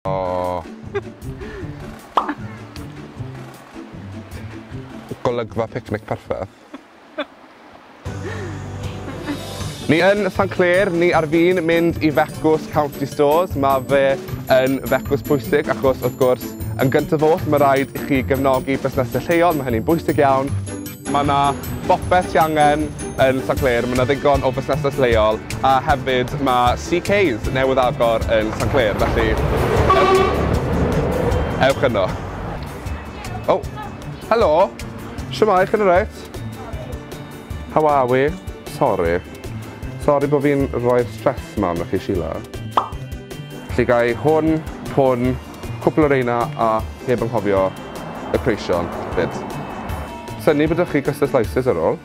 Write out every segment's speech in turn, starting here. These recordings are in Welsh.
O. Golygfa picnic perffaith. Ni yn San Clair, ni ar fin mynd i Fecws County Stores. Mae fe yn fecws pwysig achos wrth gwrs yn gyntaf oll mae rhaid i chi gefnogi busnesau lleol, mae hynny'n bwysig iawn. Mae 'na bopeth ti angen yn Sant Clêr, mae 'na ddigon o fusnesau lleol a hefyd mae CK's newydd agor yn Sant Clêr, felly ewch, ewch yno. O, helo! Shwmae, chi'n alright? How are we? Sori. Sori bod fi'n rhoi'r stress 'ma arnoch chi, Sheila. Felly ga i hwn, hwn, Cwpl o reina a heb anghofio y preision 'fyd. Synnu bod 'da chi custard slices ar ôl.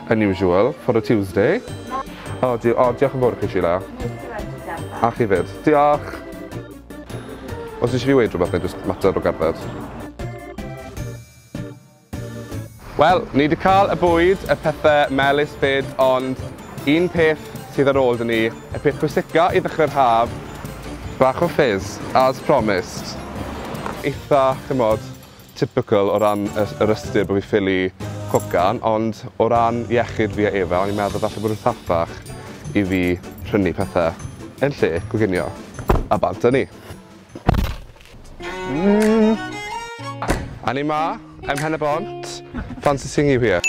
Unusual for a Tuesday. O di- o diolch yn fowr i chi Sheila. A chi 'fyd. Diolch! Os isie fi weud rhywbeth neu jyst mater o gerdded? Wel, ni 'di cael y bwyd, y pethe melys 'fyd, ond un peth sydd ar ôl 'da ni, y peth pwysica i ddechre'r haf, bach o fizz, as promised. Eitha, ch'mod, typical o ran y yr ystyr bo' fi ffili cwcan, ond o ran iechyd fi a Eva, o'n i'n meddwl falle bod yn thatach i fi prynu pethe yn lle coginio, a bant â ni. A ni ma, ym Mhen-y-bont, fancy seeing you here.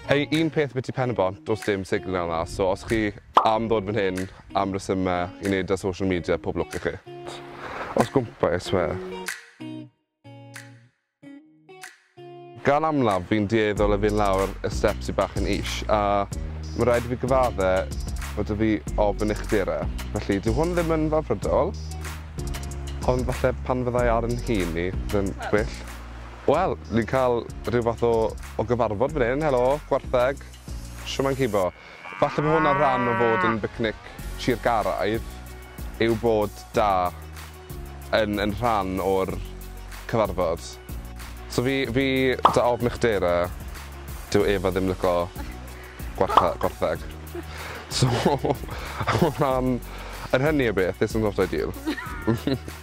Ei, un peth ambiti Pen-y-bont, does dim signal yna, so os chi am ddod fan hyn am resymau i wneud â social media, pob lwc i chi. Os gwmpa i swear. Gan amlaf fi'n dueddol o fynd lawr y steps sy bach yn is a ma' raid i fi gyfadde fod 'da fi ofn uchder e, felly dyw hwn ddim yn fawrhydiol, ond falle pan fyddai ar 'yn hun i bydd yn gwell. Wel, ni'n ca'l rhyw fath o o gyfarfod fan hyn, helo, gwartheg, shwmae cibo? Falle bod hwnna'n rhan o fod yn bicnic Sir Garaeth yw bod da yn yn rhan o'r cyfarfod. So fi fi da ofn uchdera dyw Eva ddim lico gwartha- gwartheg so hwnna'n yr hynny o beth isn't not ideal.